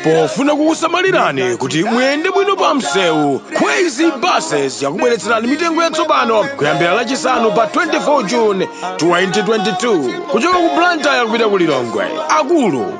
pofuna kukusamalirani kuti muyende bwino pa msewu kwezy buses yakubweretserani mitengo yatsopano kuyambira lachisanu pa 24 june 2022 kuchoka ku blantyre kupita ku lilongwe akulu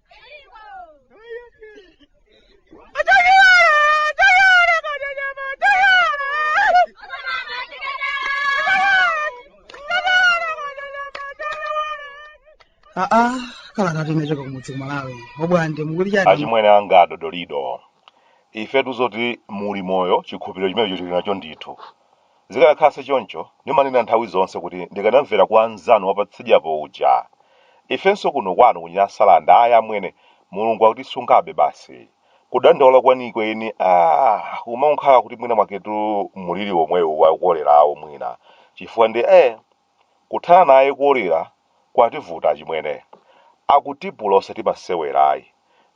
aa kalatayi inachoka kumudzi kumalawi obwande mukuti chani achimwene anga adodolido ife tuzoti muli moyo chikhulupiriro chimenecho tili nacho ndithu Zikanakhala si choncho, ndimanena nthawi zonse kuti ndikanamvera kwa mnzanu wapatsidyapo uja. Ifenso kuno kwanu ku Nyasalanda ayi amwene, Mulungu akutisungabe basi. Kudandaula kwenikweni aah kumankhala kuti mwina mwaketu muliri womwewu wa kolerawo mwina chifukwa nde eeh. Kuthana naye kolera kwativuta achimwene. Akutipula osati masewera ayi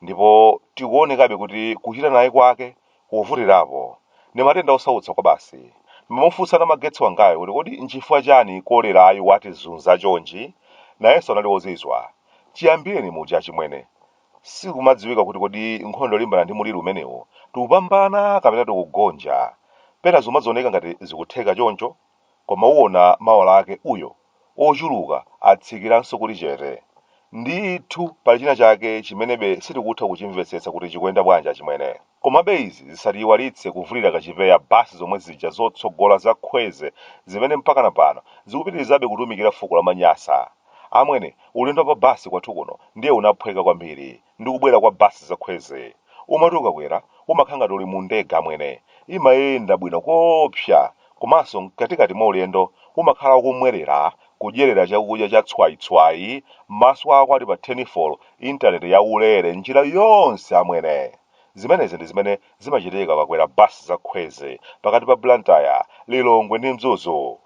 ndipo tikuonekabe kuti kuchita naye kwake kukuvutirapo. Ndi matenda osautsa kwabasi. Ndimamufunsa Namagetsi wangayo kuti kodi nchifukwa chani kolerayu watizunza chonchi? Nayenso anali ozizwa. Chiyambireni muja achimwene, sikumadziwika kuti kodi nkhondo yolimbana ndi muliri umenewu tikupambana kapena tikugonja. Pena zikumadzioneka ngati zikutheka choncho Koma uwona mawa lake uyo, ochuluka atsikiranso kuli chete. Ndithu, pali china chake chimenebe sitikutha kuchimvetsetsa kuti chikuyenda bwanji achimwene. Komabe izi zisatiyiwalitse kuvulira kachipeya bus zomwe zija zotsogola za khweze zimene mpakana pano zikupitirizabe kutumikira fuko la manyasa. Amwene, ulendo wa pa bus kwathu kuno ndiye unaphweka kwambiri. ndi kubwera kwa bus zakhweze umati ukakwera umakhala ngati uli mu ndege amwene imayenda bwino koopsa komanso mkatikati mwa ulendo umakhala ukumwerera kudyerera chakudya cha tswaitswai maso ako ali pa tenifolo intaneti ya ulere njira yonse amwene zimenezi ndi zimene Zimachitika ukakwera bus za khweze pakati pa Blantyre, Lilongwe ndi Mzuzu.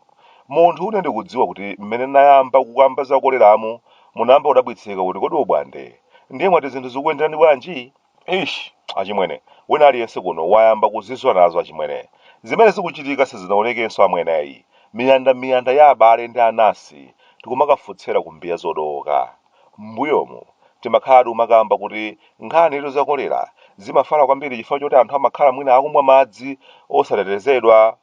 Munthu une ndikudziwa kuti mmene nayamba kukamba za koleramu munayamba kudabwitsika kuti kodi obwande ndiye mwati zinthu zikukuyenderani bwanji? Eish achimwene wina aliyense kuno wayamba kuzizwa nazo achimwene. Zimene zikuchitika sizinaonekenso amwene. Miyanda miyanda ya abale ndi anansi tikumakafotsera ku mbiya zodowoka. M'mbuyomu, timakhala tikumakamba kuti nkhani izo za kolera zimafala kwambiri chifukwa choti anthu amakhala mwina akumwa madzi osatetezedwa.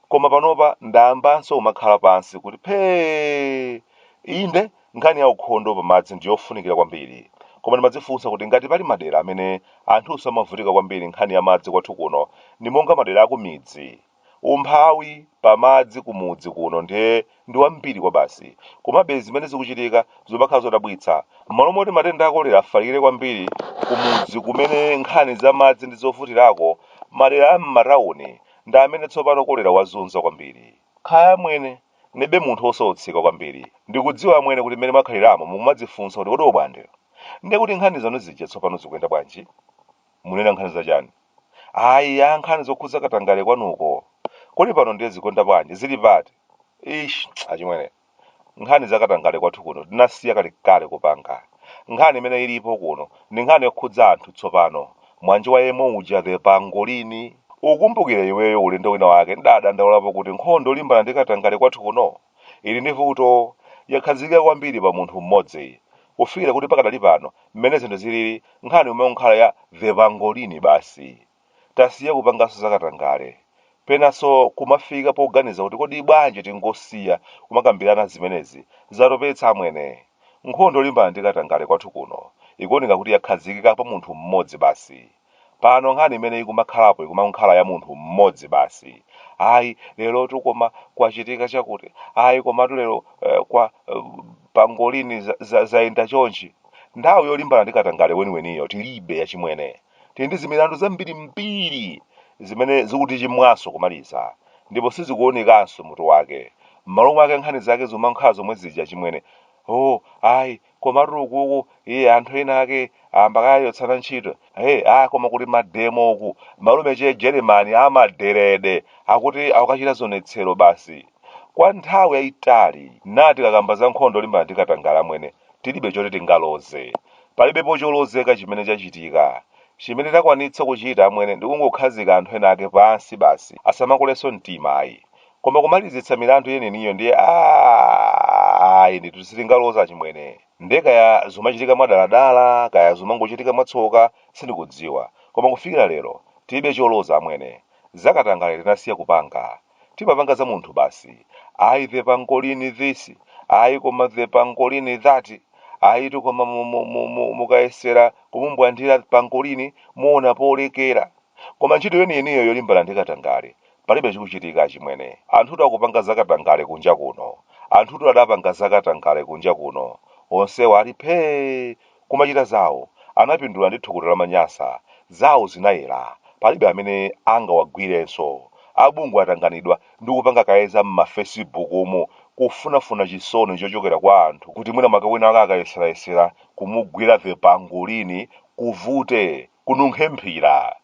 Koma panopa ndayambanso kumakhala pansi kuti phee! Inde, nkhani ya ukhondo pa madzi ndi yofunikira kwambiri. Koma ndimadzifunsa kuti ngati pali madera amene anthunso amavutika kwambiri nkhani ya madzi kwathu kuno, ndi monga madera akumidzi. Umphawi pa madzi ku mudzi kuno ndiye ndi wambiri kwabasi. Komabe zimene zikuchitika zumakhala zodabwitsa. M'malo moti matenda a kolera afalikire kwambiri ku mudzi kumene nkhani za madzi ndi zovutirako, madera a m'matauni ndi amene tsopano kolera wazunza kwambiri. Kaya amwene, neba munthu wosautsika kwambiri, ndikudziwa amwene kuti mmene mwakhaliramo mukumadzifunsa kuti kodi obwande, ndiye kuti nkhani zanu zija tsopano zikuyenda bwanji? Munena nkhani za chani? Ayi ya nkhani zokhudza katangale kwanuko. Kodi pano ndiye zikuyenda bwanji? Zili pati? Ish, achimwene. Nkhani za katangale kwathu kuno tinasiya kalekale kupanga. Nkhani imene ilipo kuno ndi nkhani yokhudza anthu tsopano. Mwa njiwa yemwe uja the pangolini. Ukumbukira iweyo ulendo wina wake ndidadandaulapo kuti nkhondo yolimbana ndi katangale kwathu kuno Ili ndi vuto, yakhazikika kwambiri pa munthu mmodzi. Kufikira kuti pakadali pano, mmene zinthu zilili, nkhani imangokhala ya The Pangolini basi. Tasiya kupanganso za katangale. Penanso kumafika poganiza kuti kodi bwanji tingosiya kumakambirana zimenezi, zatopetsa amwene. Nkhondo yolimbana ndi katangale kwathu kuno, ikuoneka kuti yakhazikika pa munthu mmodzi basi. Pano nkhani imene ikumakhalapo ikumangokhala ya munthu mmodzi basi. Ayi lerotu koma kwachitika chakuti, ayi komatu lero eh, kwa eh, pangolini za- za- zayenda chonchi. Nthawi yolimbana ndi katangale weniweniyo tilibe achimwene. Tili ndi zimilandu zambirimbiri zimene zikutichimwa nso kumaliza ndipo sizikuonekanso mutu wake. M'malo mwake nkhani zake zikumangokhala zomwe zija achimwene. Oh, ayi komatu ukuku iye anthu ena ake ayamba kuchotsana ntchito hey ah koma kuli mademo uku malume che jeremani amaderede akuti akukachita zionetsero basi kwa nthawi yayitali nde tikakamba za nkhondo yolimbana ndi katangale amwene tilibe choti tingaloze palibepo cholozeka chimene chachitika chimene takwanitsa kuchita amwene ndi kungokhazika anthu ena ake pansi basi asamakulenso mtima ayi Koma kumalizitsa milandu yeniyeniyo ndiye aah ayi ndithu sitingaloze achimwene. Nde kaya zumachitika mwadaladala kaya zumangochitika mwatsoka sindikudziwa koma kufikira lero tilibe choloza amwene. Zakatangale tinasiya kupanga. Timapanga za munthu basi. Ayi the pangolin this, ayi koma the pangolin that, ayitu koma mu mu mu mu mukayesera kumumbwandira pangolin muona polekera. Koma ntchito yeniyeniyo yolimbana ndi katangale Palibe chikuchitika achimwene. Anthutu akupanga zakatangale kunja kuno. Anthutu adapanga zakatangale kunja kuno. Onsewa ali phee! Kumachita zawo. Anapindula ndi thukuta la Manyasa. Zawo zinayera. Palibe amene angawagwirenso. A bungwe atanganidwa ndi kupanga kaye za m'mafesibukumu kufunafuna chisoni chochokera kwa anthu kuti mwina mwake winawake akayesera-yesera kumugwira the pangolini kuvute. Kununkhe mphira.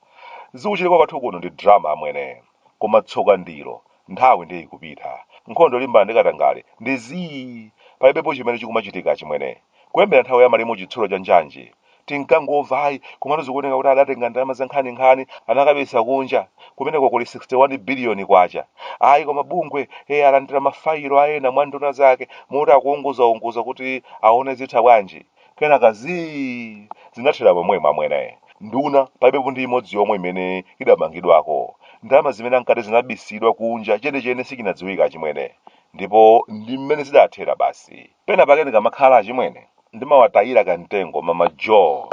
Zikuchitika kwathu kuno ndi drama amwene. Koma tsoka ndilo, nthawi ndiye ikupita. Nkhondo yolimbana ndi katangale ndi zii! Palibepo chimene chikumachitika achimwene. Kuyambira nthawi ya malemu Chitsulo cha Njanji, tinkangomva ayi, komatu zikuoneka kuti adatenga ndalama zankhaninkhani anakabisa kunja. Kumeneko kuli 61 biliyoni kwacha. Ayi, koma bungwe alandira mafayilo a ena mwa nduna zake moti akuunguzaunguza kuti aone zitha bwanji. kenaka zii zinathera pomwemo amwene nduna palibepo ndi imodzi yomwe imene idamangidwako ndalama zimene ankati zinabisidwa kunja chenechene sichinadziwika achimwene ndipo ndi mmene zidathera basi pena pake ndikamakhala achimwene ndimawatayira kamtengo mama jo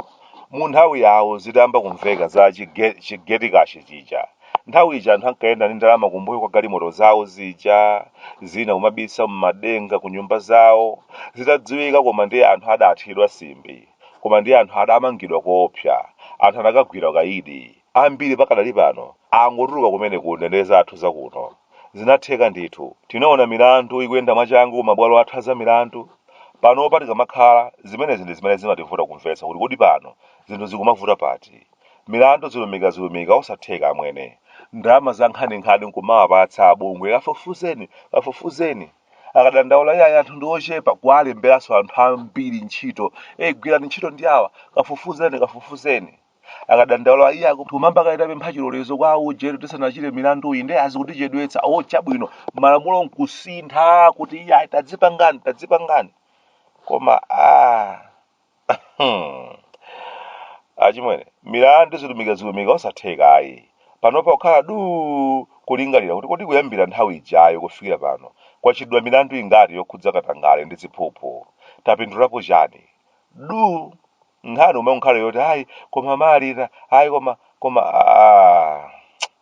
mu nthawi yawo zitayamba kumveka za chige- chigetikashi chija Nthawi ija anthu ankayenda ndi ndalama kumbuyo kwa galimoto zawo zija, zina kumabisa m'madenga ku nyumba zawo. Zitadziwika koma ndiye anthu adathidwa simbi. Koma ndiye anthu adamangidwa koopsa. Anthu anakagwira ukaidi. Ambiri pakadali pano angotuluka kumene ku ndende zathu za kuno. Zinatheka ndithu. Tinaona milandu ikuyenda mwachangu ku mabwalo athu a zamilandu. Panopa tikamakhala, zimenezi ndi zimene zimativuta kumvetsa kuti kodi pano zinthu zikumavuta pati. Milandu zilumikazilumika osatheka amwene. Ndalama za nkhaninkhani nkumawapatsa abungwe kafufuzeni kafufuzeni. Akadandaula iyayi anthu ndi ochepa kuwalemberanso anthu ambiri ntchito ee gwirani ntchito ndi awa kafufuzeni kafufuzeni. Akadandaula iyayi kumamba kaye kupempha chilolezo kwa auje tisanachite milanduyi nde zikutichedwetsa oo chabwino malamulo nkusintha kuti iyayi tadzipangani tadzipangani koma aah. Hmm. achimwene milandu zilumikazilumika osatheka ayi panopa kukhala du kulingalira kuti kodi kuyambira nthawi ijayo kufikira pano kwachitidwa milandu ingati yokhudza katangale ndi ziphuphu tapindulapo chani du nkhani imangokhala yoti ayi koma malita ayi koma koma ah.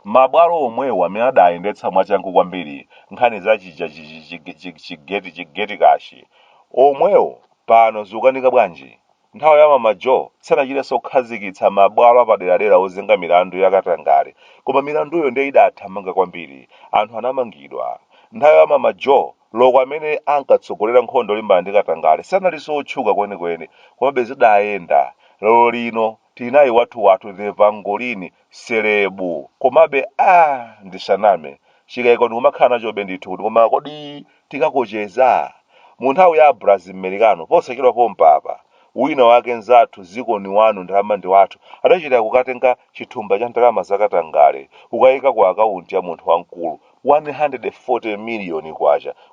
mabwalo omwewo amene adayendetsa mwachangu kwambiri nkhani za chija chi- chi- chi- chi- chigeti chigeti kashi omwewo pano zikukanika bwanji? Nthawi ya Mama Jo sanachitenso kukhazikitsa mabwalo apaderadera ozenga milandu ya katangale koma milanduyo ndiye idathamanga kwambiri, anthu anamangidwa. Nthawi ya Mama Jo, loko amene ankatsogolera nkhondo yolimbana ndi katangale sanalinso otchuka kwenikweni komabe zidayenda. Lero lino. Tilinaye wathu wathu the Pangolini selebu. Komabe aah ndisaname. Chikaiko ndikumakhala nachobe ndithu kuti koma kodi tikakocheza? Mu nthawi ya Brazil Americano posachedwa pompapa, wina wake nzathu dziko ndi wanu ndalama ndi wathu adachita kukatenga chithumba cha ndalama za katangale kukaika ku akaunti ya munthu wamkulu K140 miliyoni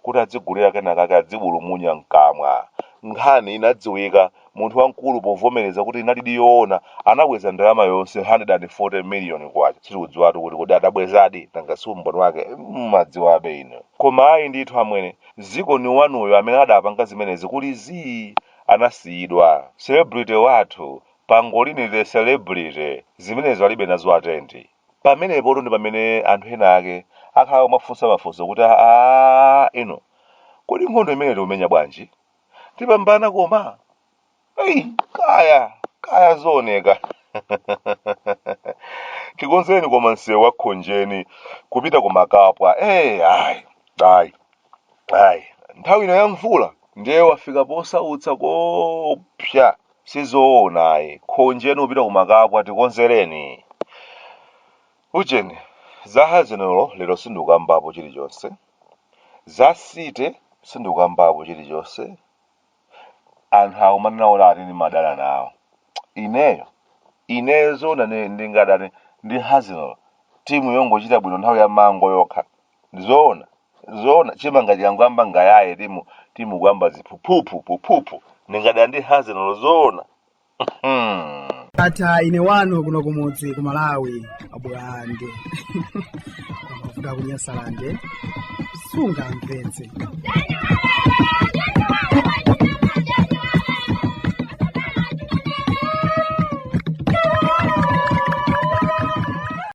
kuti adzigulira kenakake adzibulumunya mkamwa. Nkhani inadziwika, munthu wamkulu povomereza kuti inalidi yoona anabweza ndalama yonse K140 miliyoni. Sitikudziwatu kuti kodi adabwezadi, nanga si umboni wake mumadziwabe inu. Koma ayi ndithu amwene, Zikhale wanuyo amene adapanga zimenezi kuli zii! anasiyidwa. Celebrity wathu, Pangolini the Celebrity, zimenezi alibe nazo atendi. pamenepotu ndi pamene anthu ena ake akhala akumafunsa mafunso kuti aa ino kodi nkhondo imene tikumenya bwanji tipambana koma eyi kaya kaya zooneka tikonzeni koma msewu wa khonjeni kupita ku makapwa eyi ayi ayi ayi nthawi ino ya mvula ndiye wafika posautsa koopsa sizoona ayi khonjeni kupita ku makapwa tikonzereni ujeni za azenolo lero sindikambapo chilichonse za site sindikambapo chilichonse anthu akumanena ati ndimadana nawo ineyo ineyo zoona ne- ndingadane ndi azenolo timu yongochita bwino nthawi ya mango yokha zoona zoona chimanga chikangoyamba ngaiyaye timu timu kuyamba ziphuphu phuphuphu ndingadane ndi azenolo zoona hmm. ndatha ine wanu kuno kumudzi ku malawi abulande ku kunyasalande sunga mpenzi